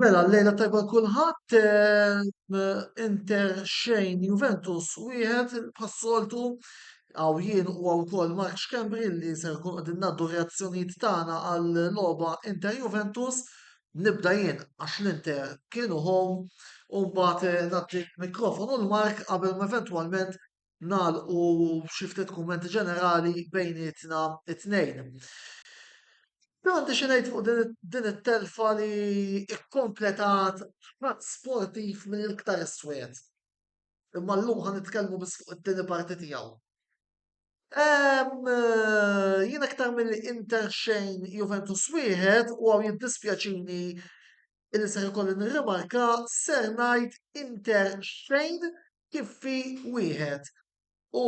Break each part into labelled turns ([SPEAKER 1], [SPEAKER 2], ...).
[SPEAKER 1] Mela l-lejla tajba kulħadd Inter xejn Juventus wieħed bħas-soltu għaw jien u għaw kol Mark Xkembri li ser kun għadin naddu reazzjonijiet tagħna għal logħba Inter Juventus nibda jien għax l-Inter kienu home u mbagħad nagħti mikrofonu l-Mark qabel eventwalment nagħlqu xi ftit kummenti ġenerali bejnietna t-tnejn. Għandi xi ngħid fuq din it-telfa li kkompletat ħadd sportiv mill-iktar iswed. Imma llum ħa nitkellmu biss fuq it-tieni parti tiegħu. Jien iktar milli Inter xejn Juventus wieħed u għaw jiddispjaċini li ser ikolli nirrimarka ser ngħid Inter xejn Kiffi wieħed u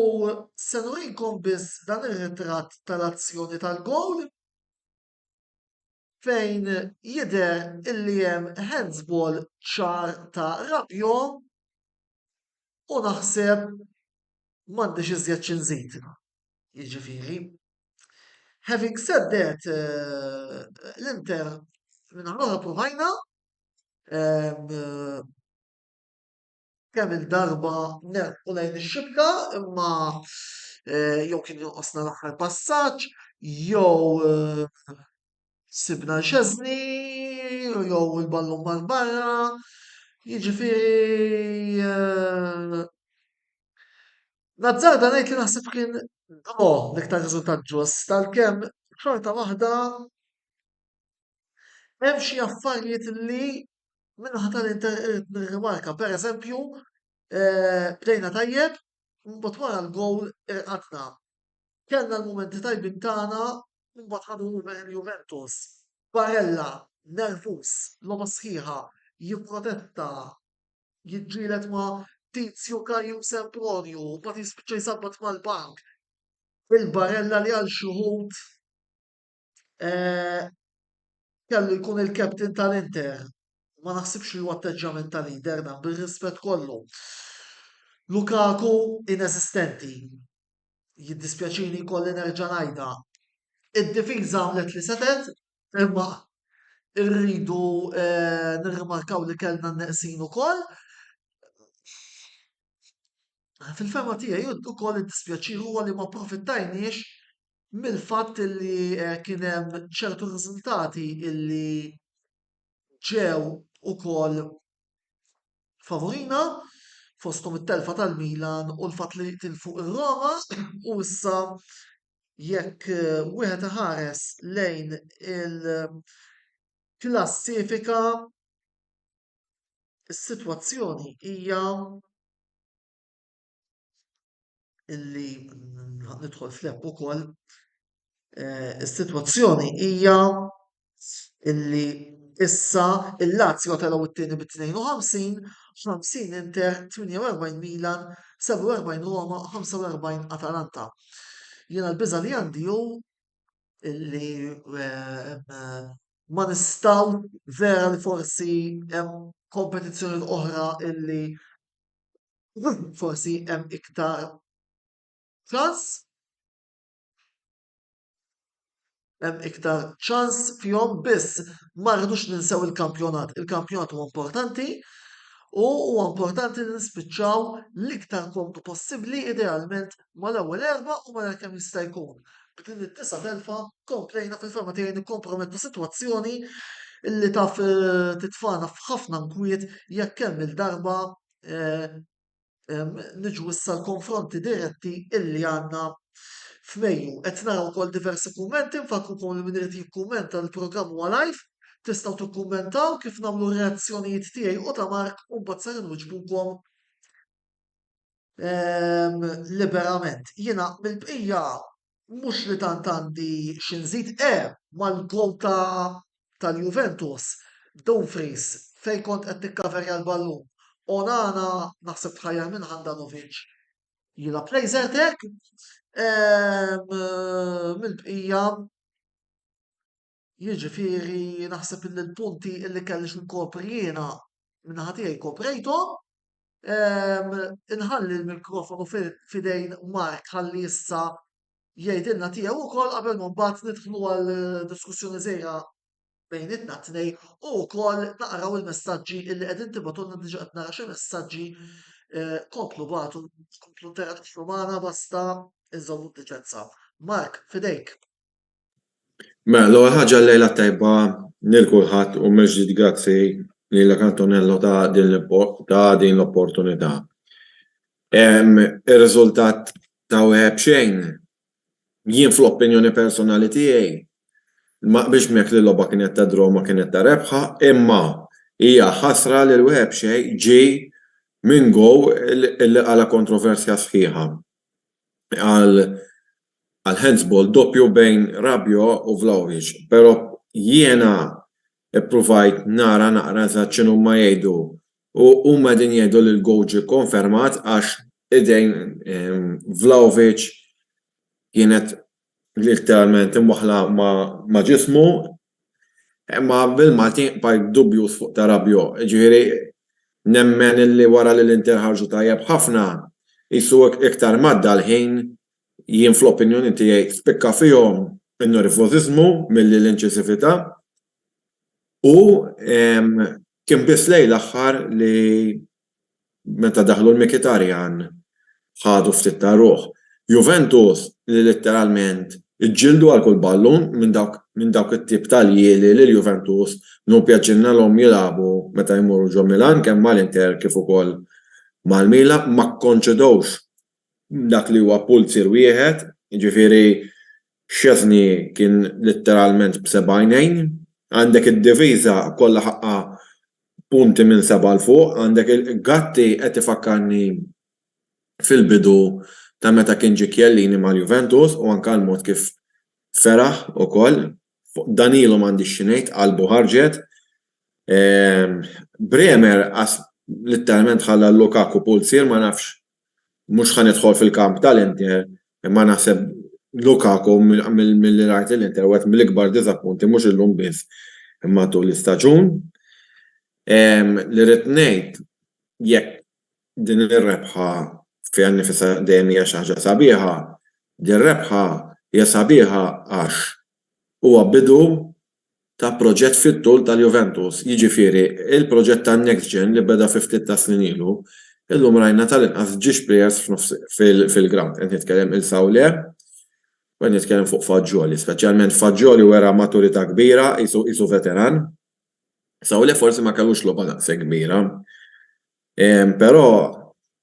[SPEAKER 1] se nurikom biss dan ir-ritratt tal-azzjoni tal-gowl fejn jidher illi hemm handsball ċar ta' Rabiot u naħseb m'għandix iżjed xi nżid. Jiġifieri, having said that, l-Inter min-naħa l-oħra ppruvajna, kemm-il darba nerbħu lejn ix-xibka imma jew kien jonqosna l-aħħar passaġġ jew sibna l-xeżni jew il-ballun mar barra. Jiġifieri nazzarda ngħid li naħseb kien draw l-iktar riżultat ġust għalkemm xorta waħda hemm xi affarijiet li Minnaħa tal-Inter irrid nirrimarka pereżempju eh, bdejna tajjeb, mbagħad wara l-gowl irqatna. Kellna l-mumenti tajbin tagħna, mbagħad ħadu Juventus. Barella, nervus, logħba sħiħa, jipprotetta, jiġġielet ma' Tizju Kaju Sempronju, mbagħad jispiċċa jsabbat mal-bank. Il-Barella li għal xi eh, kellu jkun il-captain tal-Inter. Ma naħsibx li huwa atteġġjament ta' leader dan bir-rispett kollu. Lukaku inesistenti. Jiddispjaċini kolli nerġa' ngħidha. Id-difiża għamlet li setet, imma irridu eh, nirrimarkaw li kellna n-neqsin ukoll. Fil-fema tiegħi ukoll id-dispjaċir huwa li ma profittajniex mill-fatt li kien hemm ċertu riżultati li ġew ukoll favurina fosthom it-telfa tal-Milan u l-fatt li tilfu r-Roma u issa jekk wieħed iħares lejn il-klassifika is-sitwazzjoni hija illi nidħol fl-app ukoll eh, is-sitwazzjoni hija illi issa il-Lazio telgħu t-tieni bi 52, 50 Inter, 48 Milan, 47 Roma, 45 Atalanta. Jiena l-biża li għandi hu illi eh, eh, ma nistaw vera li forsi hemm kompetizzjoni oħra illi Forsi hemm iktar ċans hemm iktar ċans fihom biss ma rridux ninsew il-kampjonat. Il-kampjonat huwa importanti u huwa importanti li nispiċċaw l-iktar komdu possibbli idealment mal-ewwel erbgħa u malajr kemm jista' jkun. B'din id-disa' telfa komplejna fil-fehma tiegħi nikkompromettu sitwazzjoni li taf eh, titfana f'ħafna nkwiet jekk kemm il-darba eh, niġu issa l-konfronti diretti illi għandna f'Mejju. Qed nara wkoll diversi kummenti, nfakrukom li min irid jikkummenta l-programm huwa live, tistgħu tikkummentaw kif nagħmlu r-reazzjonijiet tiegħi u ta' Mark u mbagħad ser inwiġbukom Ehm, liberament. Jiena mill-bqija mhux li tant għandi xi nżid, e eh, mal-gol ta' tal-Juventus, Dumfries fejn kont qed tikkaverja l-ballun. Onana naħseb tħajjar minn Handanovic jilab lejzertek. Ehm, mill-bqija Jiġifieri naħseb illi l-punti illi kellix inkopri jiena min-naħa tiegħi koprejthom. Inħalli l-mikrofonu f'idejn Mark ħalli issa jgħidilna tiegħu wkoll qabel ma mbagħad nidħlu għal diskussjoni żgħira bejnietna t-tnejn u wkoll naqraw il-messaġġi illi qegħdin tibgħatulna diġà qed nara xi messaġġi komplu bagħtu komplu interaġixxu magħna basta inżommu d-deċenza. Mark, f'idejk.
[SPEAKER 2] Mela, l-ewwel ħaġa l-lejla t-tajba lil kulħadd u mill-ġdid grazzi lilek Antonello ta' din ta' din l-opportunità. Ir-riżultat ta' wieħed b'xejn jien fl-opinjoni personali tiegħi ma qbilx miegħek li l-logħba kienet ta' draw ma kienet ta' rebħa imma hija ħasra li l-wieħed b'xejn ġie minn goal li qala kontroversja sħiħa. għal handsball doppju bejn Rabiot u Vlahovic però jiena ppruvajt nara naqra eżatt x'inhuma jgħidu u huma qegħdin jgħidu li l-gowl ġie kkonfermat għax idejn Vlahovic kienet Letteralment imwaħħla ma' ġismu, imma bil-Malti bqajt dubjuż fuq Tarabio. Jiġifieri nemmen illi wara li l-Inter ħarġu tajjeb ħafna, qisu iktar m'għadda l-ħin, jien fl-opinjoni tiegħi spikka fihom in-nervożiżmu milli l-inċisività u kien biss lejn l-aħħar li meta daħlu l-Mikitarjan ħadu ftit ta' ruħ. Juventus li litteralment iġġieldu għal kull ballun minn dawk it-tip ta' ljieli li l-Juventus hu pjaċirnelhom jilagħbu meta jmorru ġo Milan kemm mal-Inter kif ukoll mal-Milan ma kkonċedewx dak li huwa pulzier wieħed, jiġifieri Szczesny kien litteralment b'seba' għajnejn, għandek id-difiża kollha ħaqqha punti minn seba' 'l fuq, għandek Gatti qed ifakkarni fil-bidu ta' meta kien ġie Chiellini mal-Juventus u anke l-mod kif feraħ ukoll, fuq Danilo m'għandix xi ngħid qalbu ħarġet, Bremer litteralment ħalla Lukaku pulzier ma nafx Mhux ħa nidħol fil-kamp tal-Inter imma naħseb Lukaku milli rajt lill-Inter wieħed mill-ikbar diżappunti mhux illum biss imma tul l-istaġun. Li rrid ngħid jekk din ir-rebħa fiha nnifisha dejjem hija xi ħaġa sabiħa, din rebħa hija sabiħa għax huwa bidu ta' proġett fit-tul tal-Juventus, jiġifieri l-proġett tan-NextGen li beda fi ftit tas-snin ilu, illum rajna tal-inqas ġiex plejers fil-grawnd. Qed nitkellem il Saulé u qed nitkellem fuq Fagioli. Speċjalment Fagioli wera maturità kbira, qisu veteran. Saulé forsi ma kellux logħba daqshekk kbira. Ehm, però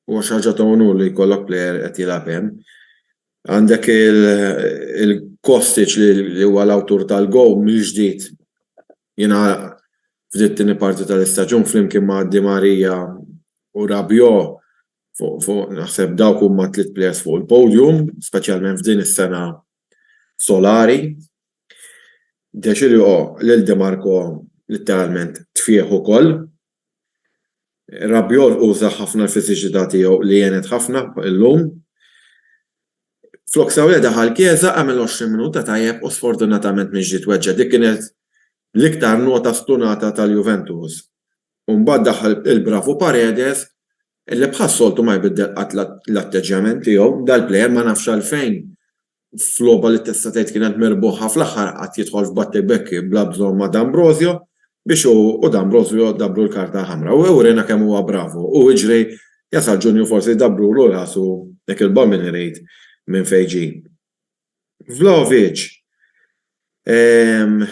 [SPEAKER 2] huwa xi ħaġa ta' unur li jkollok plejer qed jilgħab hemm. Għandek il-Kostic li huwa l-awtur tal-gowl mill-ġdid jiena f'dit tieni parti tal-istaġun flimkien ma' Di Maria u Rabio fuq naħseb dawk huma tliet plejers fuq il-podium, speċjalment f'din is-sena solari. Dexilio lil Di Marco litteralment tfieħ ukoll. Rabiot uża ħafna l-fiżiċità tiegħu li għenet ħafna llum. Flok Sawle daħal Chiesa, għamel 20 minuta tajjeb u sfortunatament mhix ġiet weġġa'. Dik kienet l-iktar nota stunata tal-Juventus. U mbagħad daħal il-bravu Paredes li bħas-soltu ma jbiddel qatt l-atteġġjament tiegħu. Dal-plejer ma nafx għalfejn f'logħba li tista' tgħid kienet merbuħa fl-aħħar qatt jidħol f'Batte Becchi bla bżonn ma' D'Ambrosio biex hu u D'Ambrosio dablu l-karta ħamra u uriena kemm huwa bravu u iġri jasal Ġunju forsi dablulu rasu dik il-bombing irid minn fejn ġie. Vlahovic ehm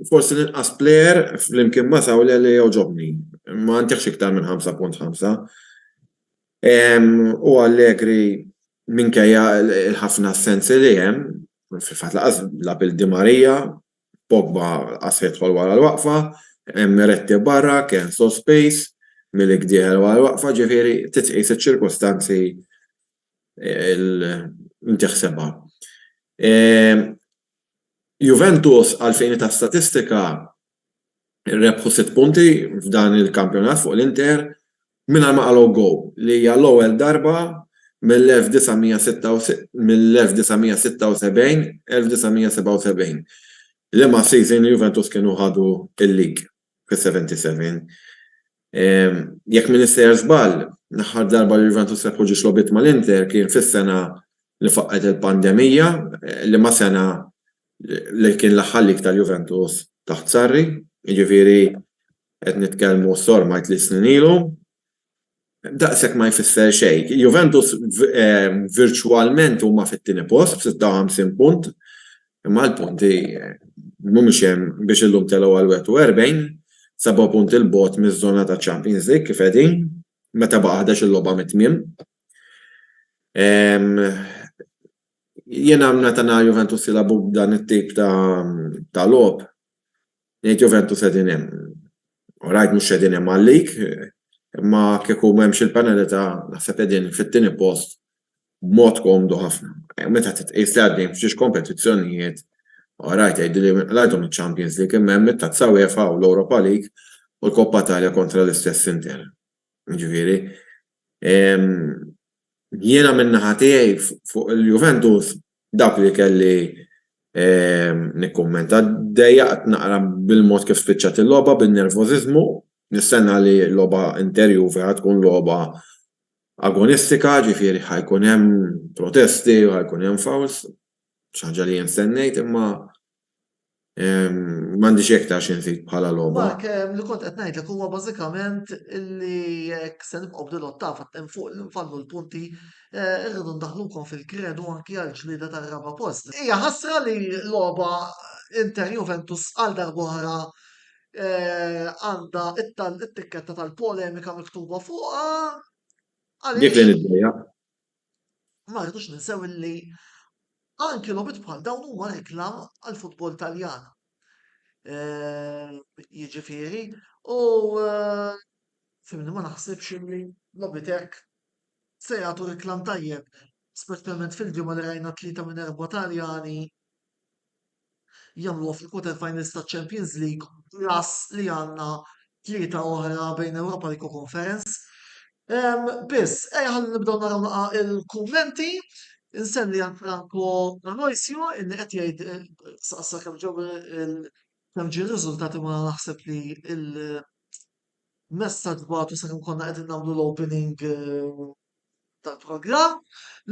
[SPEAKER 2] forsi l-inqas plejer flimkien ma' Sawle li għoġobni. Ma ntihx iktar minn 5.5. U Allegri minkejja l-ħafna assenzi li hemm, fil-fatt lanqas la bil Di Maria, Pogba lanqas se jidħol wara l-waqfa, Miretti barra, Kean sospiż, Milik dieħel wara l-waqfa, ġifieri trid tqis iċ-ċirkustanzi li tiħsebha. Juventus għall-fini ta' statistika rebħu sitt punti f'dan il-kampjonat fuq l-Inter mingħajr ma qalgħu goal li hija l-ewwel darba mill-1976-1977 liema season Juventus kienu ħadu l-league fis-77. Jekk m'iniex sejjer żball, l-aħħar darba li Juventus rebħu ġiex logħbiet mal-Inter kien fis-sena li faqqgħet il-pandemija, liema sena li kien l-aħħallik tal-Juventus taħt Sarri, jiġifieri qed nitkellmu sorma tliet snin ilu, daqshekk ma jfisser xejn. Juventus virtwalment huma fit-tieni post b'56 punt, imma l-punti mhumiex hemm biex illum telgħu għal 41, seba' punti 'l bogħod miż-żona taċ-Champions League kif qegħdin, meta baqa' ħdax-il logħba mit-tmiem. Jiena meta nara Juventus jilagħbu b'dan it-tip ta' ta' logħob, ngħid Juventus qegħdin hemm. Orajt mhux qegħdin hemm għal-lig, imma kieku m'hemmx il-penalità naħseb qegħdin fit-tieni post b'mod komdu ħafna. Meta titqies li għaddejn f'xiex kompetizzjonijiet, orajt tgħidilli għajthom iċ-Champions League imma hemm it-Tazza UEFA u l-Europa League u l-Coppa Italia kontra l-istess Inter. Jiġifieri, jiena min-naħa tiegħi fuq il-Juventus dak li kelli nikkummenta. Dejjaqt naqra bil-mod kif spiċċat il-logħba bin-nervożiżmu. Nistenna li l-logħba Inter Juve ħa tkun logħba agonistika, jiġifieri ħa jkun hemm protesti u ħa jkun hemm fouls, xi ħaġa li jien stennejt imma M'għandi xejn iktar xi nżid bħala logħba. Dak ehm, li kont qed
[SPEAKER 1] ngħidlek huwa bażikament li jekk se nibqgħu b'din l-ottava hemm fuq li nfallu l-punti eh, irridu ndaħlukom fil-kredu anki għal ġlieda tar-raba' post. Hija ħasra li logħba Inter Juventus għal darbohra eh, għandha it-tikketta tal-polemika miktuba fuqha.
[SPEAKER 2] Dik li niddeja.
[SPEAKER 1] Ma rridux ninsew illi anki logħbiet bħal dawn huma reklam għall-futbol Taljan. Jiġifieri, u fimni ma naħsibx illi logħbiet hekk se jagħtu reklam tajjeb, speċjalment fil-ġimgħa li rajna tlieta minn erba' Taljani jagħmluha fil-quarter finals taċ-Champions League plus li għandna tlieta oħra bejn Europa League u Conference. Ehm, biss, ej ħalli nibdew naraw naqa' il-kummenti. Insenni għal Franco Aloisio illi qed jgħid eh, saqsa kemm ġew kemm ġie riżultati ma naħseb li il messaġġ batu sakemm konna qegħdin nagħmlu l-opening eh, tal-programm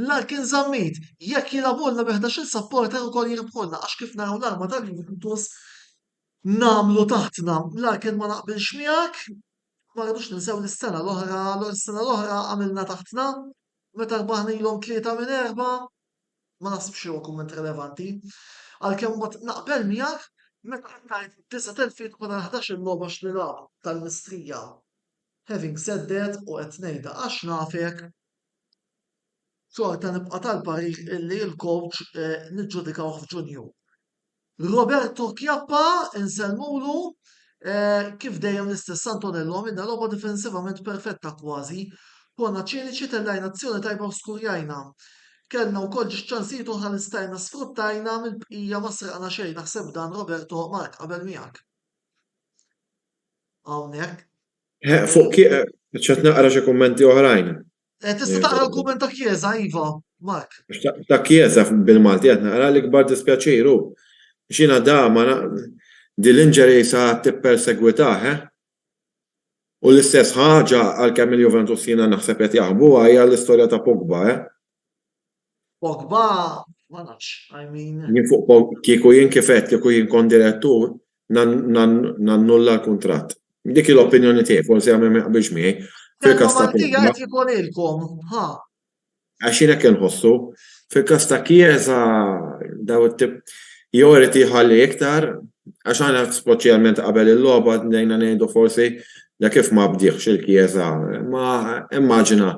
[SPEAKER 1] l-għar kien żammit jekk jilagħbulna bi 11-il supporter ukoll jirbħulna għax kif naraw l-arma tal-Juventus nagħmlu taħtna. L-għar kien ma naqbilx miegħek ma rridux ninsew li s-sena l-oħra l-sena l-oħra għamilna taħtna meta rbaħna ilhom tlieta minn erba' ma naħsibx li huwa kumment relevanti. Għalkemm ma naqbel miegħek meta qed tgħid disa' telfiet wara 11-il logħba x'nilagħbu tal-mistrija. Having said that, u qed ngħidha għax nafek, xorta nibqa' tal-parir illi l-coach niġġudikawh f'Ġunju. Roberto Chiappa insellmulu kif dejjem l-istess Antonello għamilna logħba difensivament perfetta kważi, konna ċiniċi tellajna azzjoni tajba u skurjajna. Kellna wkoll ġiex ċansijiet oħra li stajna sfruttajna mill-bqija ma sraqna xejn naħseb dan Roberto marrtqabel miegħek. hawnhekk. Eh, fuq
[SPEAKER 2] kieq, eh, ċet naqra xi kummenti oħrajn. Eh, tista' taqra
[SPEAKER 1] l-kumment ta' Chiesa, Iva, Mark. Ta' Chiesa
[SPEAKER 2] bil-Malti qed naqra l-ikbar dispjaċiru. Xina da ma dil-inġeri sa tippersegwitah, eh? U l-istess ħaġa għal kemm il-Juventus jiena naħseb qed jaħbu hija l-istorja ta' Pogba, eh?
[SPEAKER 1] Pogba, ma nafx, I mean. Jien fuq Pogba, kieku
[SPEAKER 2] jien kif għedt, kieku jien kont direttur, nannulla l-kuntratt. Dik hi l-opinjoni tiegħi, forsi hawn min ma jaqbilx miegħi. Fil-każ ta' Pogba. Qed jkolilkom, ha. Għax jien hekk inħossu. Fil-każ ta' Chiesa, daw it-tip jew irid jħalli iktar, għax aħna speċjalment qabel il-logħba bdejna ngħidu forsi da kif ma bdiehx il-Chiesa, imma immaġina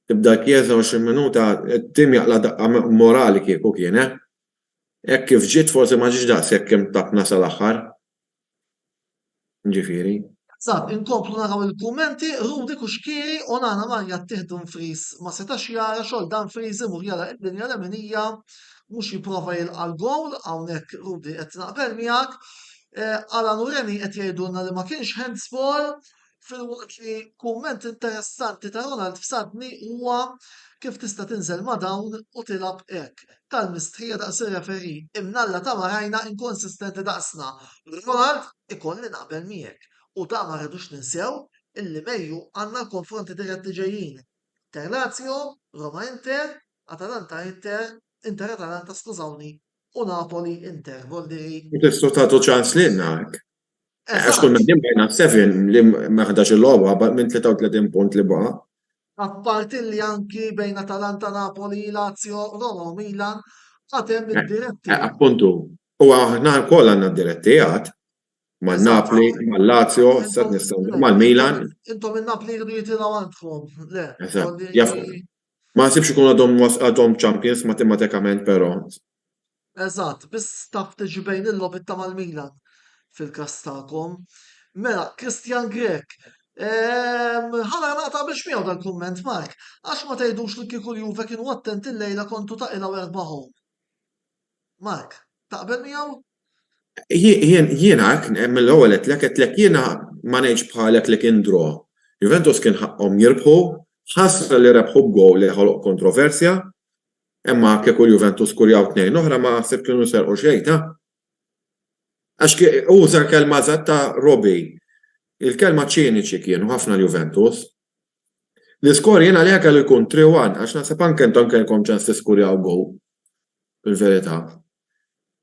[SPEAKER 2] Tibda l-Kjesa 20 minuta, it-tim jaqla' daqqa morali kieku kien he. Hekk kif ġiet forsi ma ġietx daqshekk kemm tatna sal-aħħar. Ġifieri. Eżatt, inkomplu
[SPEAKER 1] naraw il-kummenti, Rudy Cuschieri, Onana Marja ttieħ Dumfries ma setax jara xogħol Dumfries imur jara il-linja leminija mhux jipprova jilqa' l-gowl, hawnhekk Rudy qed naqbel miegħek. Alan u Reni qed jgħidulna li ma kienx handsball. Filwaqt li kumment interessanti ta' Ronald f'Santni huwa kif tista' tinżel ma' dawn u tilgħab hekk. Talmis tħija daqs ir-referee, imnalla ta' marajna inkonsistenti daqsna. Ronald, ikolli naqbel miegħek u da ma rridux ninsew illi Mejju għandna l-konfronti dirett li ġejjin, Inter-Lazio, Roma-Inter, Atalanta-Inter, Inter-Atalanta skużawni u Napoli-Inter, Voldiri. U tistgħu tagħtu ċans
[SPEAKER 2] lilna hekk. Għax kull minn din bajna
[SPEAKER 1] 7
[SPEAKER 2] li ma ħdax il-logħba baqgħet minn 33 punt li baqa'. Apparti
[SPEAKER 1] li anki bejn Atalanta, Napoli, Lazio, Roma u Milan għad hemm id-diretti. Eh, appuntu,
[SPEAKER 2] u aħna wkoll għandna diretti għad ma' Napli, ma' Lazio, sa' nistgħu ma' Milan. Intom in-Napli jridu
[SPEAKER 1] jitilgħu għandkom. Le. Ma'
[SPEAKER 2] sibx ikun għadhom għadhom champions matematikament però. Eżatt,
[SPEAKER 1] biss taf tiġi bejn il-logħob inta mal-Milan fil-każ tagħkom. Mela, Christian Grech, ehm, ħala naqta' biex miegħu dal-kumment Mark, għax ma tgħidux li kieku l-Juve kienu attenti llejla kontu taqilgħu erba' home. Mark, taqbel miegħu?
[SPEAKER 2] Jiena mill-ewwel għedtlek għedtlek jiena ma ngħidx bħalek li kien draw. Juventus kien ħaqqhom jirbħu, ħasra li rebħu b'gowl li ħoloq kontroversja, Imma kieku l-Juventus skurjaw tnejn oħra ma naħseb kienu serqu xejn, ta? Għax uża l-kelma eżatt ta' Robbie. Il-kelma ċiniċi kienu ħafna l-Juventus. L-iskor jien għalija kellu jkun 3-1 għax naħseb anke intom kellkom ċans tiskurjaw gowl. Il-verità.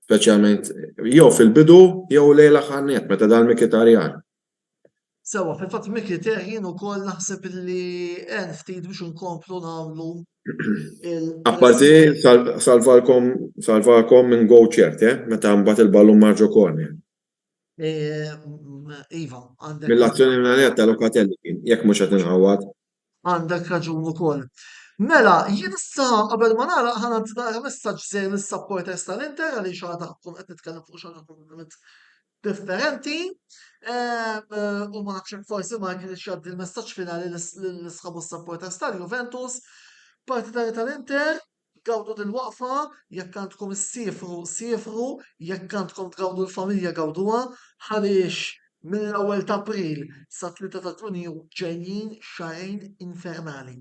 [SPEAKER 2] Speċjalment jew fil-bidu jew lejla ħannet meta dal Mikitarjan.
[SPEAKER 1] Sewwa, fil-fatt Mickey teh jien ukoll naħseb li għen ftit biex inkomplu nagħmlu il- Apparti
[SPEAKER 2] sal- salvalkom salvakom minn go ċert, eh? Meta mbagħad il-ballun mar ġo corner. Eh, m-
[SPEAKER 1] Iva, għandek. Mill-azzjoni mingħajr ta'
[SPEAKER 2] Locatelli kien, jekk mhux qed inħawwad. Għandek raġun
[SPEAKER 1] ukoll. Mela, jien issa qabel ma nagħlaq ħana nagħti messaġġ żejr lis-supporters tal-Inter għaliex għadha tkun qed nitkellem fuq xi kompletament differenti. Ehm, u ma nafx forsi ma kienx jgħaddi l-messaġġ finali l-isħabu supporters tal-Juventus. Partitari tal-Inter, Gawdu dil-waqfa, jekk għandkom issiefru, siefru, jekk għandkom tgawdu l-familja gawduha, għaliex mill-ewwel t'April sat-tlieta ta' Ġunju ġejjin xahrejn infernali.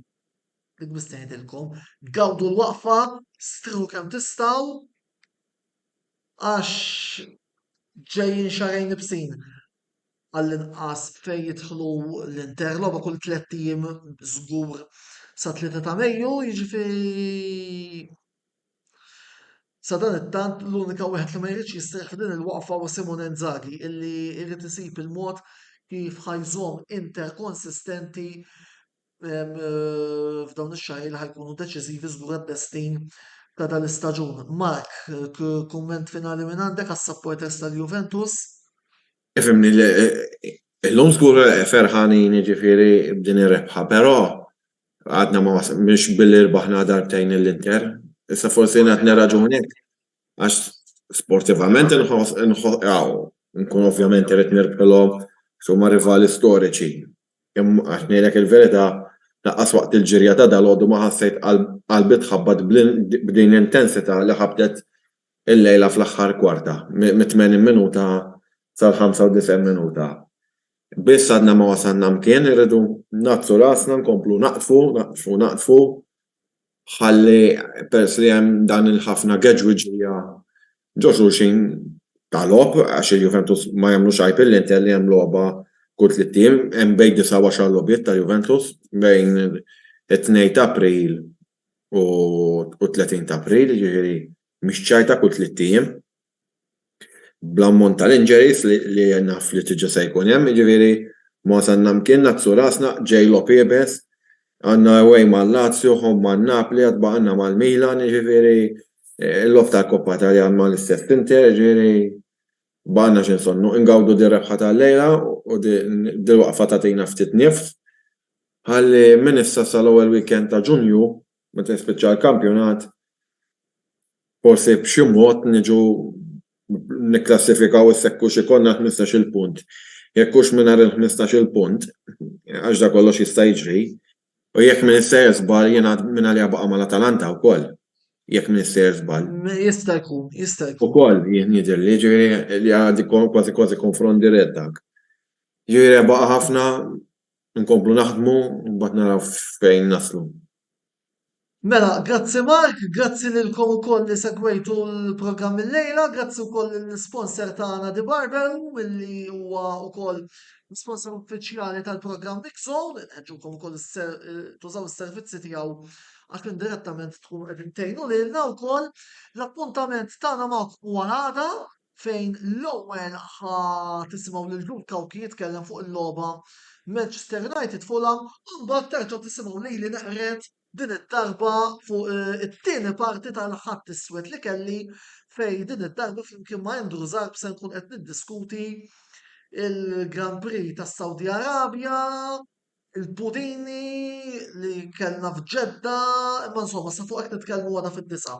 [SPEAKER 1] Dik biss ngħidilkom, gawdu l-waqfa, strieħu kemm tistgħu għax ġejjin xahrejn ibsin. għall-inqas fejn jidħlu l-Inter logħba kull tlett ijiem żgur sa 3 ta' Mejju, jiġifieri sadanittant l-unika wieħed li ma jridx jistrieħ f'din il-waqfa huwa Simone Inzaghi illi jrid isib il-mod kif ħa jżomm Inter konsistenti f'dawn ix-xahri li ħajkunu deċiżivi żgur għat-testin ta' dal-istaġun. Mark, kumment finali minn għandek għas-supporters tal-Juventus? Ifhimni,
[SPEAKER 2] illum żgur ferħanin jiġifieri b'din ir-rebħa, però għadna ma mhux billi rbaħna darbtejn lill-Inter. Issa forsi qed nirraġunek għax sportivament inħoss nkun ovvjament irid nirbħilhom x'huma rivali storiċi. Imma għax ngħidlek il-verità, lanqas waqt il-ġirja ta' dalgħodu ma ħassejt qalbi tħabbat b'din l-intensità li ħabtet illejla fl-aħħar kwarta, mit-80 minuta sal-95 minuta. Biss għadna ma wasalna mkien, irridu ngħaddsu rasna, nkomplu naqdfu, naqdfu, naqdfu, ħalli peress li hemm dan il-ħafna geġwiġija ġo xulxin ta' logħob għax il-Juventus ma jagħmlux għajb lill-Inter li hemm logħba kull tliet ijiem, hemm bejn disgħa u għaxar logħbiet tal-Juventus bejn it-tnejn ta' April u t-tletin ta' April, jiġifieri mhix ċajta kull tliet ijiem. bl-ammont tal-injuries li naf li diġa se jkun hemm jiġifieri ma wasalna mkienna nagħksu rasna ġej logħob iebes għandna away ma' Lazio home ma' Napli għad baqgħalna mal-Milan jiġifieri l-logħob tal-Coppa Italia ma' l-istess Inter jiġifieri baqgħalna xi nsonnu ingawdu dir-rebħa tal-lejla u dil-waqfa tagħtina ftit nifs ħalli minn issa sal-ewwel weekend ta' Ġunju Meta jispiċċa l-kampjonat forsi b'xi mod niġu nikklassifikaw issa hekk hux ikollna l-ħmistax-il punt. Jekk hux mingħajr il-ħmistax-il punt, għax dak kollox jista' jiġri, u jekk minn issejjer żball jingħad min għaliha baqa' mal-Atalanta wkoll, jekk minn issejjer żball. Jista' jkun,
[SPEAKER 1] jista' jkun. Ukoll jien jidhirli,
[SPEAKER 2] jiġifieri li għad kważi kważi konfront dirett dak. Jiġifieri rebaħ ħafna Inkomplu naħdmu u mbagħad naraw fejn naslu.
[SPEAKER 1] Mela, grazzi Mark, grazzi lilkom ukoll li segwejtu l-programm illejla, grazzi wkoll lill-isponsor tagħna The Barbell milli huwa wkoll l-isponsor uffiċjali tal-programm Mixzone, nħeġġukom ukoll tużaw is-servizzi tiegħu għax indirettament tkunu qegħdin tgħinu lilna wkoll. L-appuntament tagħna magħkom huwa l-għada. fejn l-ewwel ħa tisimgħu lil Luke Hawke jitkellem fuq il-logħba Manchester United Fulham u mbagħad terġgħu tisimgħu lili neqred din id-darba fuq eh, it-tieni parti tal-ħadd iswed li kelli fej din id-darba flimkien ma' Andrew Zarb se nkun qed niddiskuti il-Grand Prix tas-Saudi Arabja, il-pudini li kellna f'Ġedda, imma insomma sa fuq hekk nitkellmu għada fid-disa.